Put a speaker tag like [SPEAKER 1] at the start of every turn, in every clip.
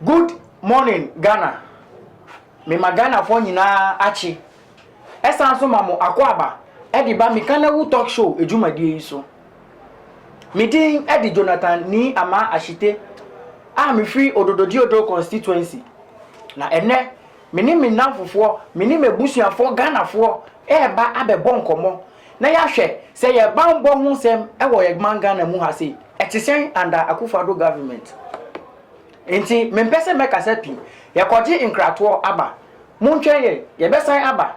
[SPEAKER 1] Good morning Ghana me ma Ghana foɔ nyinaa akye ɛsan so ma mo akwaaba ɛde ba me kanawu talk show adwumadie yi so me din ɛde Jonathan Nii Amaa Ashite a me firi Odododiodo constituency na ɛnɛ Me ne me nnamfofoɔ, me ne m'abusuafoɔ Ghanafoɔ reba abɛbɔ nkɔmmɔ na yɛahwɛ sɛ yɛn banbɔ ho nsɛm wɔ yɛn man Ghana mu ha sei, ɛte sɛn under Akuffo Addo government. Nti mempɛ sɛ mɛkasa pii. Yɛkɔgye nkratoɔ aba. Montwɛn yɛn, yɛbɛsan aba.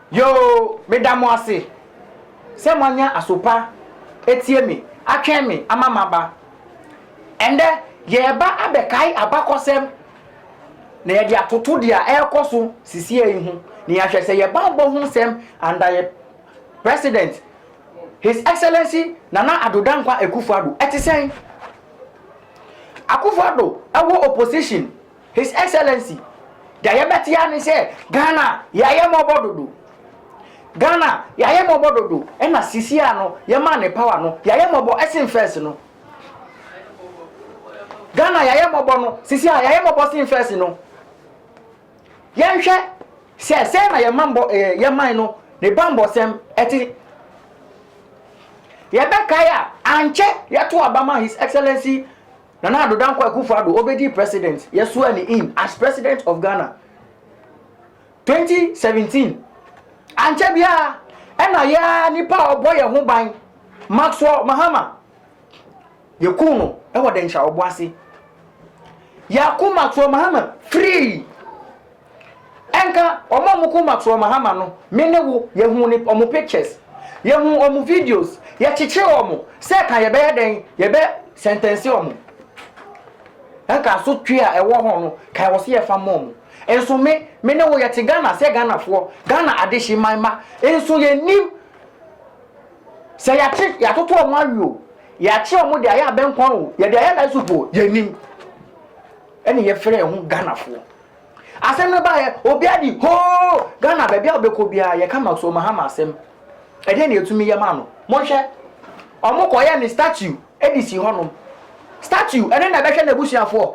[SPEAKER 1] Yoo meda mo ase sɛ moanya asopa atie me atwɛn me ama maba. Ɛndɛ yɛɛba abɛkae abakɔsɛm na yɛde atoto dea ɛɛkɔ so sisiei ho na yɛahwɛ sɛ yɛba abɔ ho nsɛm under yɛ President His Excellency Nana Addo Dankwa Akufo-Addo. Ɛte sɛn? Akufo-Addo wɔ opposition His Excellency, deɛ yɛbɛte ara ne sɛ Ghana yɛayɛ mmɔbɔ dodo. Ghana yɛayɛ mmɔbɔ dodo ɛna sisi a no yɛmaa no power no yɛayɛ mmɔbɔ ɛsen first no. Ghana yɛayɛ mmɔbɔ no sisi a yɛayɛ mmɔbɔ sen first no. Yɛnhwɛ sɛ sɛn na yɛma mbɔ ɛɛ yɛman no ne bammɔsɛm ɛte. Yɛbɛkae a ankyɛ yɛto aba ma His Excellency Nana Addo Dankwa Akufo Addo obedii president yɛsoaa no in as president of Ghana 2017 ankyɛ biara ɛna yɛa nipa a ɔbɔ yɛn ho ban Maxwell Mahama yɛkuu no ɛwɔ Dɛnkyira Ɔboase yɛako Maxwell Mahama firii Ɛnka wɔn a wɔn koma to wɔn hama no, me ne wo, yɛhuu ne, wɔn pictures. Yɛhuu wɔn videos. Yɛkyekyee wɔn sɛ ka yɛbɛyɛ dɛn, yɛbɛ sɛntɛnse wɔn. Ɛnka asotwe a ɛwɔ hɔ no, ka ɛwɔ sɛ yɛfa ma wɔn. Nso me, me ne wo, yɛte Ghana sɛ Ghanafoɔ, Ghana adehyeman mma. Nso yɛnnim sɛ yɛakye, yɛatoto wɔn awe o, yɛakye wɔn de ayɛ abɛnkwan o, yɛde ayɛ rice soup o, yɛnnim. Ɛne yɛfrɛ yɛn ho Ghanafoɔ. Asɛm no baeɛ, obiara di hoo! Ghana baabi a wobɛkɔ biara, yɛka Maxwell Mahama asɛm. Ɛdeɛn na yɛtumi yɛ maa no? Monhwɛ, wɔkɔyɛɛ no statue de sii hɔnom. Statue, ɛno na ɛbɛhwɛ n'abusuafoɔ.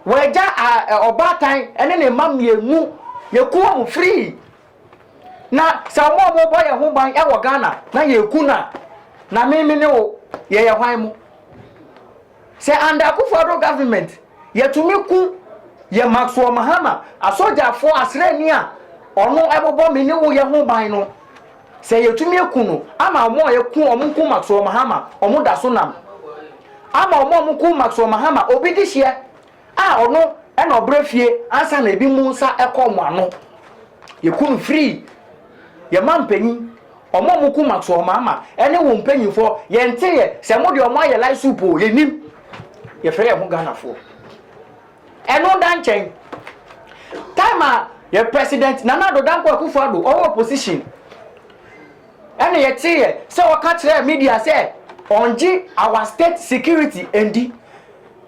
[SPEAKER 1] Wɔagya ɔbaatan ne ne mma mmienu, yɛkumm wɔn firii. Na sɛ mo a mo bɔ yɛn ho ban ɛwɔ Ghana na yɛ ku no a, na me me ne wo yɛ yɛ hwan mo? Sɛ under Akufo Addo government yɛ tumi ku yɛ Maxwell Mahama asogyafo asrani a ɔno ɛbobɔ me ne wo yɛ ho ban no, sɛ yɛ tumi aku no ama ɔmo a yɛ ku ɔmo ku Maxwell Mahama ɔmo da so nam. Ama ɔmo a ɔmo ku Maxwell Mahama obi de hyeɛ a ɔno na ɔbrɛ fie ansa na ebi mu nsa kɔ wɔn ano. Yɛku no firii yɛn mampanyin, wɔn a wɔku Maxwell-Maama ne wɔn mpanyimfoɔ. Yɛnteeɛ sɛ wɔde wɔn ayɛ lai soup o, yɛnnim. Yɛfrɛ yɛn ho Ghanafoɔ. Ɛno da nkyɛn, time a yɛ President Nana Addo Dankwa Akufo-Addo ɔwɔ opposition ɛna yɛteeɛ sɛ ɔka kyerɛɛ media sɛ ɔngye our state security ndi.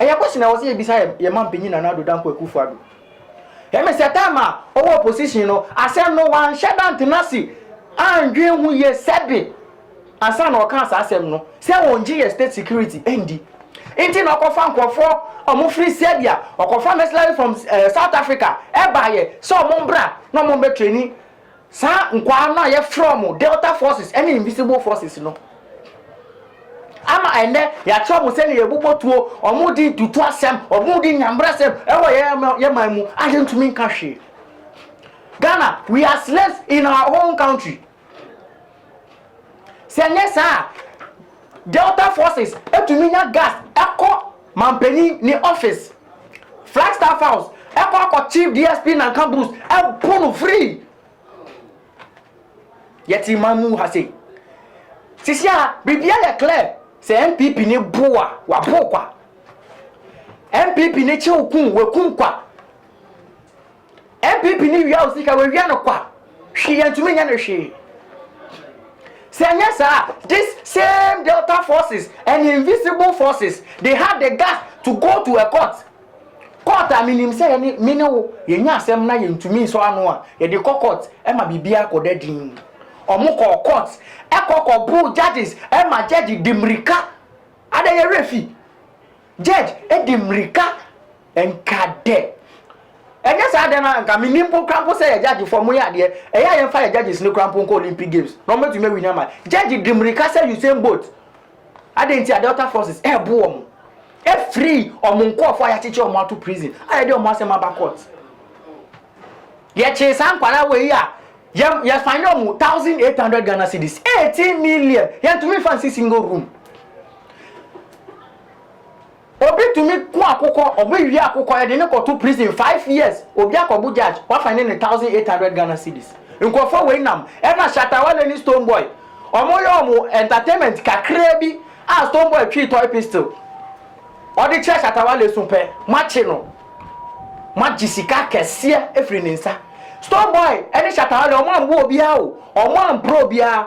[SPEAKER 1] Ɛyɛ question a ɛwɔ sɛ yɛbisa yɛn yɛn mampanyin Nana Addo Dankwa Akufo Addo. Ɛmi sɛ time a ɔwɔ opposition no, asɛm no wanhyɛ da ntena ase andwen ho yie sɛbe ansa na ɔkaa saa asɛm no sɛ ɔngye yɛn state security ndi nti na ɔkɔfa nkorɔfoɔ a wɔfiri Serbia, ɔkɔfa mercenary from eh, South Africa ɛbaeɛ sɛ wɔn mbra na wɔn bɛ traini Saa nkwaa no a yɛfrɛ wɔn Delta Forces ne Invisible Forces no ama ɛnnɛ yɛakyerɛ wɔn sɛnea yɛbobɔ tuo, wɔn di ntutu asɛm, wɔn di nyambrasɛm wɔ yɛn man mu a yɛntumi nka hwee. Ghana, we are slaves in our own country. Sɛ ɛnyɛ saa a, Delta Forces tumi nya gas kɔ Mampanyin ne office. Flagstaff House kɔ akɔ Chief DSP Nanka Bruce bu no free. Yɛte man mu ha sei. Sisi a biribiara yɛ clear. Sɛ NPP ne bo a, wabo kwa. NPP ne kyew kum, wakum kwa. NPP ne wia wo sika wawia no kwa hwee yɛntumi nyɛ no hwee sɛ ɛnyɛ saa this same delta forces and invisible forces they had the gas to go to a court court a menim sɛ yɛne me ne wo yɛnya asɛm na yɛntumi nsɔ ano a yɛde kɔ court ɛma biribi akɔda din ɔmo kɔ court ɛkɔ kɔ boo judges ɛma judge de mmirika ada yɛwerɛ fi Judge de mmirika nka dɛ ɛnyɛ saa dɛ no a nka mennim mpo koraa mpo sɛ yɛ judge foɔ moyɛ adeɛ ɛyɛ a yɛmfa yɛ judges no koraa mpo nkɔ Olympic games na wɔbɛtumi awini ama judge de mmirika sɛ Usain Bolt adɛn nti a Delta forces ɛɛbo wɔn ɛfiri wɔn nkɔɔfoɔ a yɛakyekye wɔn ato prison a yɛde wɔn asɛm aba court yɛkyee saa nkwadaa wei a Yɛ yɛ san yɛ ɔmo thousand eight hundred Ghana cedis eighteen million yɛn tumi nfa nsi single room obi tumi ko akokɔ ɔmo ewie akokɔ yɛ de ne kɔto prison five years obi akɔbu judge wafa ne ne thousand eight hundred Ghana cedis nkurɔfoɔ wei nam ɛna shatawale ne stone boy ɔmo yɛ ɔmo entertainment kakraa bi a stone boy twii toy pistol ɔde kyerɛ shatawale so pɛ mo akye no. Moagye sika akɛseɛ afiri ne nsa. Store boy ne Shatta Wale ɔmo amboa obiara o, ɔmo amporɔ obiara.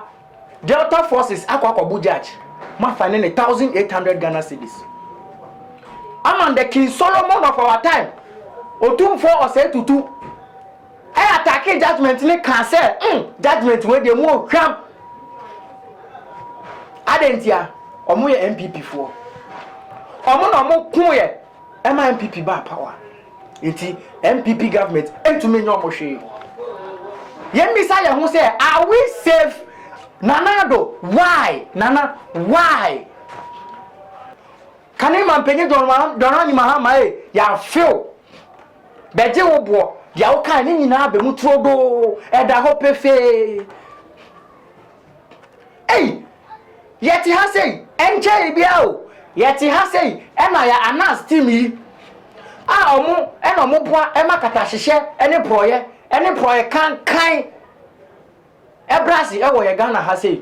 [SPEAKER 1] Delta forces akɔ akɔbo judge, moafa ne ne thousand eight hundred Ghana cedis. Aman the King Solomon of our time, Otumfoɔ Osei Tutu, ɛ attackee judgement no kaa sɛ mm judgement wei deɛ mu ohwam. Adɛn ntia? Ɔmo yɛ NPP foɔ. Ɔmo na ɔmo koeɛ. ɛma NPP baa power nti NPP government ntumi nyɛ ɔmo hwee. Yɛn bisa yɛn ho sɛ are we safe Nana Addo why Nana why? Kane ma mpanyin Dɔnrani Mahama ee yɛafew bɛgye wo boɔ deɛ wokae ne nyinaa bɛ mu turodoo ɛda hɔ pefee. Ei! Yɛte ha sei, ɛnkyɛe biara o, yɛte ha sei, ɛna yɛ Anas team yi a ɔmo ɛna ɔmo boa ɛma katahyehyɛ ɛne porɔyɛ ɛne porɔyɛ kankan ɛbra ase ɛwɔ yɛ Ghana ha sei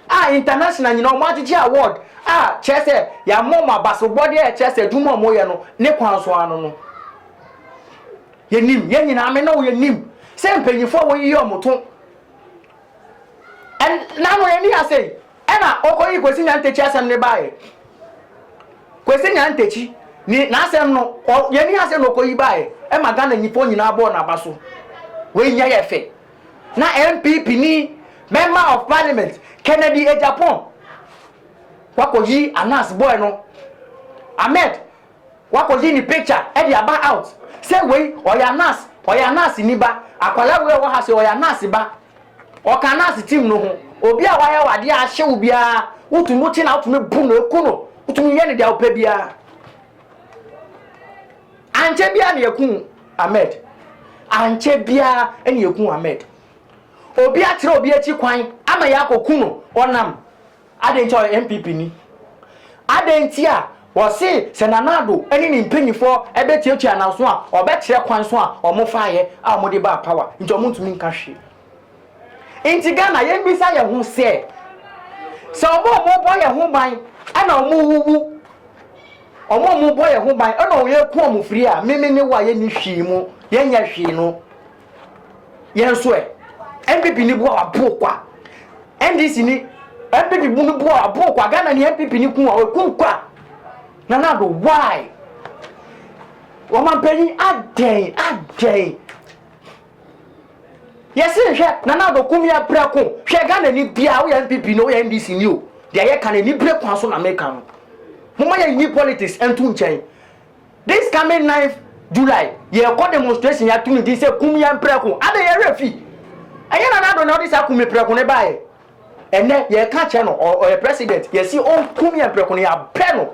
[SPEAKER 1] a international nyina ɔmo agyegye award a kyerɛ sɛ yɛama ɔmo abasobɔdeɛ a ɛkyerɛ sɛ adwuma ɔmo yɛ no ne kwan so ano no yɛnim yɛn nyinaa me ne wo yɛnim sɛ mpanyinfoɔ a wɔyiyɛ ɔmo to Ɛnna no ani ha sei, ɛnna ɔkɔyii Kwesi Nyantakyi asɛm no baeɛ. Kwesi Nyantakyi ne n'asɛm no, ɔ n'ani ha sei na ɔkɔyi baeɛ, ɛma Ghana nnipa nyinaa bɔɔ n'aba so. Wei nyɛ yɛ fɛ. Na NPP ni Member of Parliament Kennedy Agyapong wakɔyi Anas boy no, Ahmed Wakɔyi ne picture de aba out sɛ wei ɔyɛ Anas, ɔyɛ Anas ni ba, akwadaa wei a ɔwɔ ha sei ɔyɛ Anas ba. Ɔka Anas team no ho. Obi a wayɛ wo adeɛ a ahye wo biara, wotumi wote no a wotumi bu no, ku no, wotumi yɛ no deɛ wopɛ biara. Ankyɛ biara na yɛku Ahmed. Ankyɛ biara na yɛku Ahmed. Obi akyerɛ obi akyi kwan ama yɛakɔku no, ɔnam. Adɛn nti a ɔyɛ NPP ni? Adɛn nti a wɔse sɛ Nana Addo ne ne mpanyimfoɔ bɛtuatua ananso a ɔbɛkyerɛ kwan so a wɔfaeɛ a wɔde baa power nti wɔntumi nka hwee? Nti Ghana yɛmmisa yɛn ho sɛ, sɛ wɔn a wɔbɔ yɛn ho ban na wɔwuwu, wɔn a wɔbɔ yɛn ho ban na wɔku wɔn firi a, me, me ne wo a yɛnni hwee mu, yɛnyɛ hwee no, yɛn nso ɛ npp ni bu a waboro kwa ndc ni npp bu no bu a waboro kwa ghana ni npp ni kun a wakum kwa nana ado why wɔmampanyin adɛn adɛn yɛsi nhwɛ nana ado kum yɛ brɛ ko hwɛ ghana ni bia woyɛ npp ni woyɛ ndc ni o deɛ yɛ ka no ni brɛ kwan so na meka no moma yɛ nyi politics nto nkyɛn This coming ninth July yɛkɔ demonstration yɛato ne din sɛ kum yɛn prɛko adɛn yɛn werɛ fi ɛnyɛ Nana Addo na ɔde saa kum me prɛko no baeɛ ɛnɛ yɛka kyerɛ no ɔyɛ president yɛsi ɔnkum yɛn prɛko no yɛabrɛ no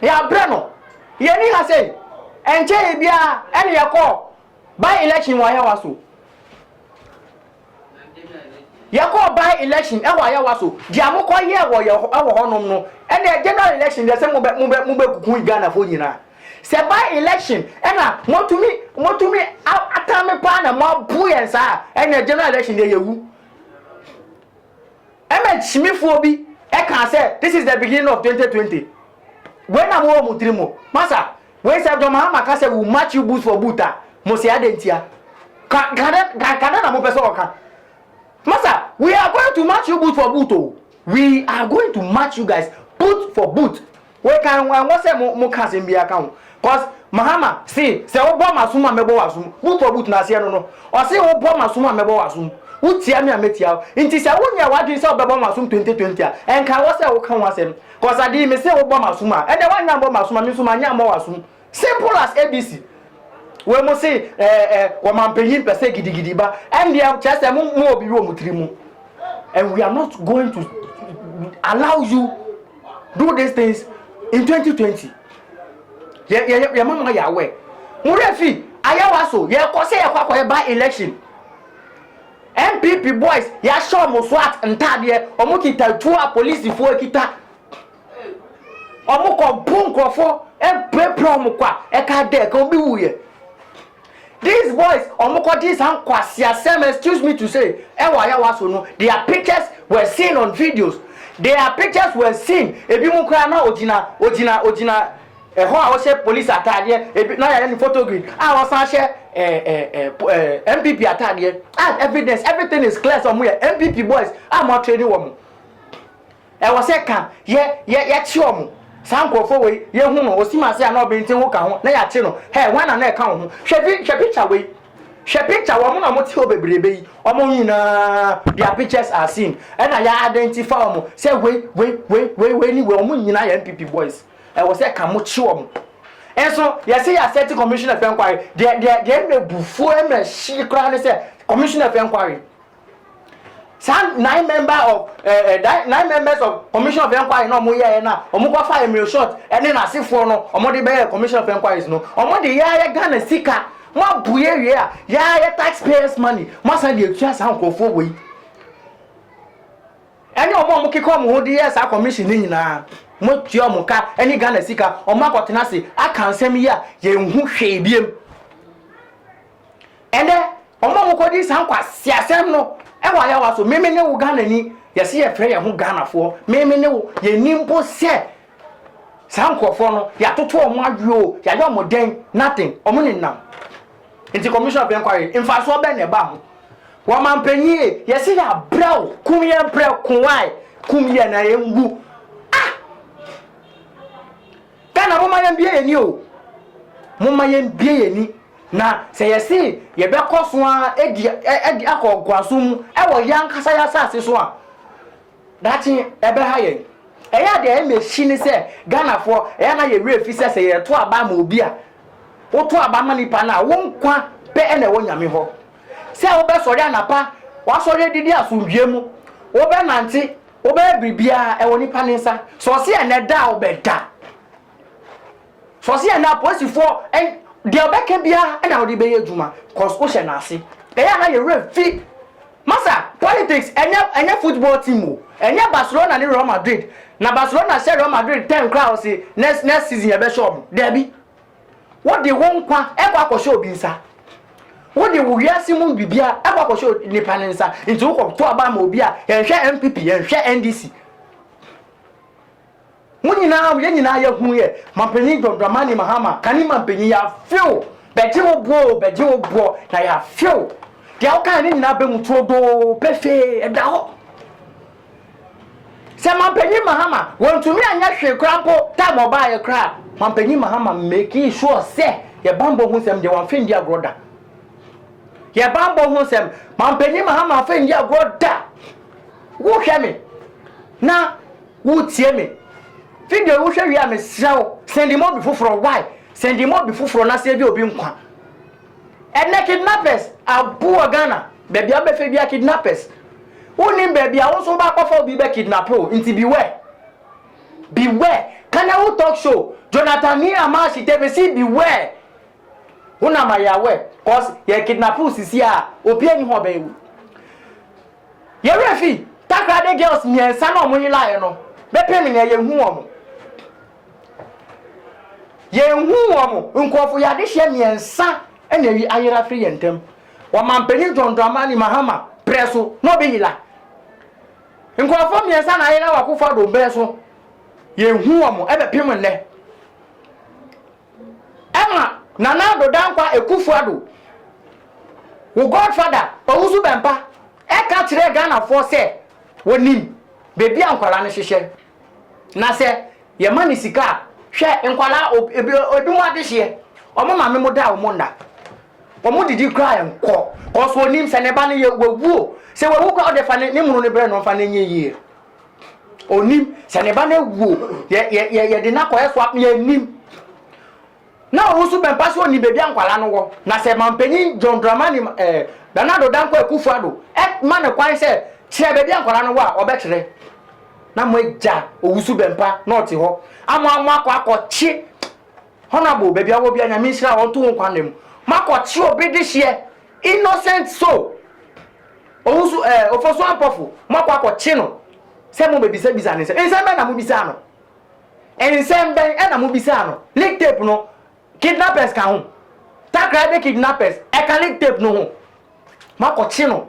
[SPEAKER 1] yɛabrɛ no yɛni ha sɛ ɛnkyɛ yɛ biara ɛne yɛkɔ by election wɔ Ayawa so Yɛkɔɔ by election wɔ Ayawa so, deɛ mo kɔ yɛɛ wɔ yɛ wɔ hɔ nom no ɛna yɛ general election deɛ sɛ mo bɛ mo bɛ mo bɛ kuku Ghana foɔ nyinaa sɛ by election ɛna mo tumi mo tumi atame paa na mo abu yɛn saa ɛna yɛ general election deɛ yɛ wu. Ɛmɛ kyimifoɔ bi ɛkaa sɛ this is the beginning of twenty twenty wei na mowɔ mo tiri mo masa wei sɛ John Mahama ka sɛ will match you boot for boot a mose adɛn ntia ka ka dɛn ka ka dɛn na mopɛ sɛ ɔka masa we are going to match you boot for boot o we are going to match you guys boot for boot Wei kan ho ɛnwɔ sɛ mo mo ka asɛm biaa ka ho cos Mahama se sɛ wo bɔ masom a mɛbɔ w'asom wo tɔ boot no aseɛ no no ɔse wo bɔ masom a mɛbɔ w'asom wo tia me a mɛtia wo nti sɛ wo nyɛɛ w'adwene sɛ wo bɛbɔ masom 2020 a ɛnka ɛwɔ sɛ wo ka ho asɛm cos adeyii me se wo bɔ masom a ɛnɛ wanyɛ ammɔ masom a me nso manyɛ ammɔ w'asom Simple as ABC. Wei mo se eh, eh, wɔmampanyin pɛ sɛ gidigidi ba. Ɛndeɛ kyerɛ sɛ mo mo obi wɔ mo tiri mu. And we are not going to allow you do these things in 2020. Yɛ yɛ yɛ ma mo ayɛ awɛ. Mo rɛ fi ayawa so yɛ kɔ sɛ yɛ kɔ akɔyɛ by election. NPP boys yɛahyɛ wɔn SWAT ntaadeɛ wɔn kita tuo a polisifoɔ kita. Ɔmo kɔ bo nkorɔfoɔ ɛpirapira ɔmo kwa ɛka adɛ ɛka obi wu yɛ these boys ɔmo kɔ gye saa nkwasia sɛm excuse me to say ɛwɔ ayawa so no their pictures were seen on videos their pictures were seen ebi mo koraa na ogyina ogyina ogyina ɛhɔ a ɔhyɛ police ataadeɛ ebi na yɛyɛ ne photo grid a ɔsan hyɛ ɛɛ ɛɛ ɛɛ npp ataadeɛ and evidence everything is clear sɛ ɔmo yɛ npp boys a mo atrɛ ni wɔn. Ɛwɔ sɛ ka yɛ yɛ yɛkye wɔn. Saa nkurɔfoɔ wei, yɛhu no, ɔsim ase a na ɔbenten ho ka ho, na yɛakye no. Hɛ, hwan na na ɛka wo ho? Hwɛ vi, hwɛ picture wei. Hwɛ picture, wɔn na wɔte hɔ bebrebe yi, wɔn nyinaa, their pictures are seen. Ɛna yɛ identify wɔn sɛ wei, wei, wei, wei, wei ne wei, wɔn nyinaa yɛ NPP boys. Ɛwɔ sɛ ka mo kye wɔn. Nso, yɛse yɛ asɛte commissioner of enquiry, deɛ, deɛ, deɛ mmerɛ bufuo mmerɛ hye koraa ne sɛ, commissioner of enquiry. saa nine member of ɛɛ eh, eh, nine members of commission of enquiry na wɔn yɛɛ na wɔn kɔ fa emir short ɛne n'asefoɔ no wɔn de bɛyɛ commission of enquiries no wɔn de yɛayɛ ghana sika mo abue wie a yɛayɛ taxpayers money mo asan de etua saa nkurɔfoɔ wɔ yi ɛne wɔn a wɔn keka wɔn ho de yɛ saa commission ne nyinaa mo tua wɔn ka ɛne ghana sika wɔn akɔtena ase aka nsɛm yi a yɛn ho hwee biem. Ɛnɛ, wɔn a wɔkɔdi saa nkwaseasɛm no wɔ ayawa so. Meme ne wo Ghanani, yɛse yɛfrɛ yɛn ho Ghanafoɔ. Meme ne wo, yɛnni mpo sɛ saa nkurɔfoɔ no, yɛatoto wɔn awe o, yɛayɛ wɔn dɛn, nothing, wɔn nenam. Nti Commission of Inquiry, mfasoɔ bɛn na ɛba ho? Wɔmampanyin e, yɛse yɛabrɛ wo, kum yɛn prɛko, why? Kum yɛn na yɛnwu. Ah! Ghana momma yɛmbue yɛn ani o, momma yɛmbue yɛn ani na sɛ yɛse yɛbɛkɔ so ara di adi akɔ ɔgoasom mu wɔ yɛn ankasa yɛn asase so a, daakye ɛbɛha yɛn. Ɛyɛ a deɛ ɛma ɛsi ne sɛ Ghanafoɔ ɛyɛ a na yɛn werɛ fi sɛ sɛ yɛto aba ama obi a, woto aba ma nipa no a, wo nkwa pɛ na ɛwɔ Nyame hɔ. Sɛ wobɛsɔre anapa, woasɔre adidi asomdwoeɛ mu, wobɛnante, wobɛyɛ biribiara, ɛwɔ nipa ne nsa. Sɛ ɔse ɛnɛ da a, wobɛda. Sɛ ɔse ɛnɛ apolisifoɔ, ɛn, deɛ ɔbɛka biara ɛna wode bɛyɛ adwuma, cause wohyɛ n'ase. Ɛyɛ a na yɛ werɛ fi. Masa, politics, ɛnyɛ, ɛnyɛ football team o. Ɛnyɛ Barcelona ne Real Madrid. Na Barcelona hyɛ Real Madrid tɛn koraa a, ɔse next, next season yɛbɛhyɛ wɔn. Daabi. Wode wo nkwa kɔ akɔhyɛ obi nsa. Wode wo wiase mu biribiara kɔ akɔhyɛ nipa ne nsa. Nti wokɔ to aba ma obi a yɛnhwɛ NPP, yɛnhwɛ NDC. Mo nyinaa, yɛn nyinaa yɛhu yɛ. Mampanyin John Dramani Mahama, kane mampanyin yɛafew. Bɛgye wo boɔ, bɛgye wo boɔ, na yɛafew. Deɛ wokae ne nyinaa bɛ mu turodoo, pefee, ɛda hɔ. Sɛ Mampanyin Mahama wonntumi annyɛ hwee koraa mpo time ɔbaayɛ koraa a, Mampanyin Mahama makee sure sɛ yɛ bambɔ ho nsɛm deɛ wɔammfa anndi agorɔ da. Yɛ bambɔ ho nsɛm, Mampanyin Mahama ammfa anndi agorɔ da. Wo hwɛ me na wo tie me. Video yi wo hwɛ wie a, me serɛ wo, sɛndi ma obi foforɔ. Why? Sɛndi ma obi foforɔ na save obi nkwa. Ɛnɛ kidnappers abu wɔ Ghana baabi a wobɛfɛ bia kidnappers wonim baabi a wo nso wobɛ akɔfa obi bɛ kidnap o nti beware beware Kanewu talk show Jonathan ni Amashi TV si beware wo na ma yɛ aware cause yɛ kidnap wo sisi a obi ani hɔ bɛyɛ wo yɛwerɛ fi Takrade girls mmiɛnsa na ɔmo yelaeɛ no bɛpem nɛ yɛhu ɔmo Yɛnhu wɔn. Nkurɔfo yɛ adehyeɛ mmiɛnsa na ayi ayere afiri yɛn ntam. Ɔmanpanin John Dramani Mahama berɛ so, na Obi Hila. Nkurɔfoɔ mmiɛnsa na ayera wɔ Akufo Addo berɛ so. Yɛnhu wɔn ɛbɛpem nnɛ. Ɛma Nana Addo Dankwa Akufo Addo, wo godfather Owusu Bɛmpa ɛka kyerɛɛ Ghanafoɔ sɛ wɔnim baabi a nkwadaa no hyehyɛ. Na sɛ yɛma no sika a, hwɛ nkwadaa ob ebi ebinom adehyeɛ, wɔn maame mo da wɔn nna, wɔn didi koraa nkɔ, kɔs onim sɛ ne ba no yɛ wawu o, sɛ wawu koraa ɔde fa ne ne munu no brɛ no mfa no nyɛ yie. Onim sɛ ne ba no awu o, yɛ yɛ yɛde no akɔyɛ so a yɛnim. Na ɔno nso bɛmpa sɛ ɔnim baabi a nkwadaa no wɔ. Na sɛ mampanyin John Dramani eh, Bernardo Dankwa Akufo Addo eh, ma no kwan sɛ kyerɛ baabi a nkwadaa no wɔ a, ɔbɛkyerɛ. Na moagya Owusu Bɛmpa na ɔte hɔ ama moakɔ akɔkye Honourable baabi a ɔwɔ biara, Nyame nhyira wo, ɔnto wo nkwa nna mu. Moakɔkye obi dehyeɛ, innocent soul. Owusu eh, Ofosu Ampɔfo, moakɔ akɔkye no sɛ mobɛbisabisa no nsɛm. Nsɛm bɛn na mobisaa no? Nsɛm bɛn na mobisaa no? Lick tape no, kidnappers ka ho. Takoradi kidnappers, ɛka lick tape no ho. Moakɔkye no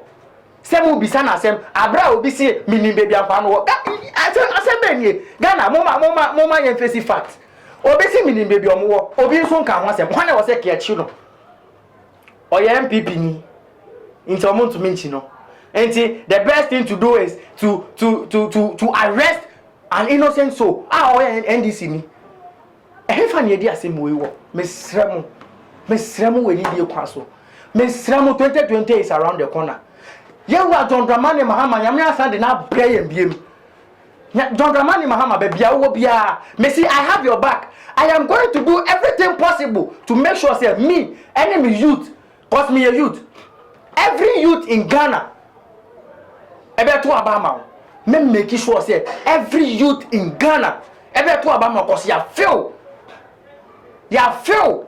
[SPEAKER 1] sɛ mobisa no asɛm aberɛ a obi se menim baabi a nkwaa no wɔ. Asɛm asɛm bɛn nie? Ghana, moma moma moma yɛn fesi fact. Obi se menim baabi ɔmo wɔ, obi nso nka ho asɛm. Hwan na ɛwɔ sɛ kɛɛkye no? Ɔyɛ NPP ni nti ɔmo ntumi nkyi no nti the best thing to do is to to to to to arrest an innocent soul a ɔyɛ NDC ni. Ɛhefa na yɛdi asɛm wei wɔ? Mesrɛ mo, mesrɛ mo wɔ anidie kwan so, mesrɛ mo 2020 is around the corner. Yɛwura John Dramani Mahama, Nyame asan de no abrɛ yɛn biem. Nya John Dramani Mahama babia wowɔ biaa mese I have your back I am going to do everything possible to make sure sɛ me ɛne me youth cause meyɛ youth every youth in Ghana ɛbɛto aba ama wo me make sure sɛ every youth in Ghana ɛbɛto aba ama cause ya feel ya feel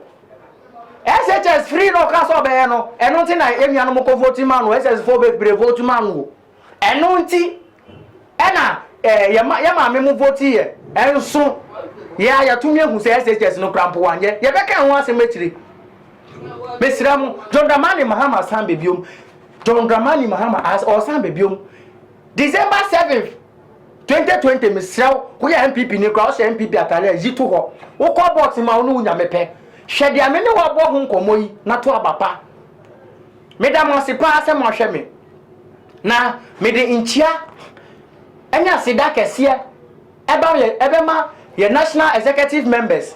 [SPEAKER 1] SHS free no ɔka sɛ ɔbɛyɛ no ɛno nti na ɛnuanom kɔ vote ma no SS fo bebree vote ma no Ɛno nti na yɛn maame mo vote yɛ nso yɛ a yɛatumi ahu sɛ SHS no kura mpo wanyɛ. Yɛbɛka ho asɛm akyire. Mesrɛ mo, John Dramani Mahama san bɛ biom. John Dramani Mahama ɔsan bɛ biom. December 7th 2020 mesrɛ wo, woyɛ MPP ni kora ɔhyɛ MPP atare a yi to hɔ. Wokɔ box ma wo ne wo nyame pɛ. Hwɛ deɛ me ne wabɔ ho nkɔmmɔ yi na to aba pa. Meda mo ase paa sɛ moahwɛ me, na mede nkyia ne aseda kɛseɛ ba yɛ bɛma yɛ National Executive Members,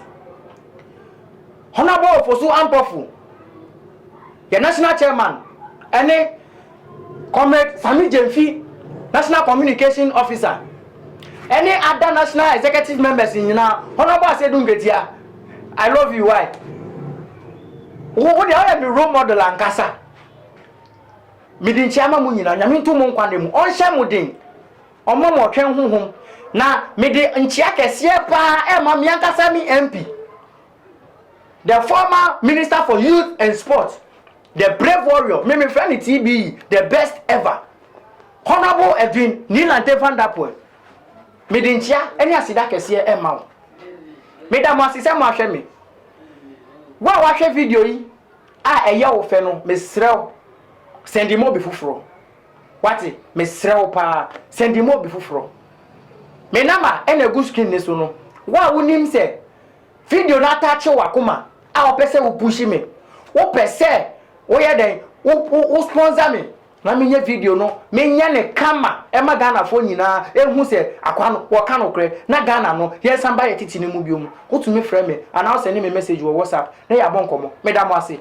[SPEAKER 1] Honourable Ofosu Ampofo, yɛ National Chairman ne Comrade Sammy Gyamfi, National Communication Officer. Ɛne ada national executive members nyinaa honourable asedu nketia I love you why wo wo deɛ ɔyɛ me role model ankasa mede nkyia ma mo nyinaa nyame nto mo nkwa na mu ɔnhyɛ mo den ɔma mo ɔtwɛn honhom na mede nkyia kɛseɛ paa ɛma me ankasa me MP the former minister for youth and sports The brave warrior me me frɛ no TBE the best ever Honourable Edwin Nilante Van Der Poel me de nkyia ne aseda kɛseɛ ɛma wo me da mo ase sɛ mo ahwɛ me wo a wahwɛ video yi a ɛyɛ wo fɛ no me srɛ wo sɛndi mo obi foforɔ wate me srɛ wo paa sɛndi mo obi foforɔ me nama ɛna egu screen ne so no wo a wonim sɛ Video no ataakye wakoma a wopɛ sɛ wo push me wopɛ sɛ woyɛ dɛn wo wo sponsor me na menyɛ video no menyɛ no kama ɛma Ghana foɔ nyinaa ɛhu sɛ akwaa no wɔka nokorɛ na Ghana no yɛnsan ba yɛ tete no mu biom wotumi frɛ me anaa wo send me message wɔ WhatsApp na yɛabɔ nkɔmmɔ meda mo ase.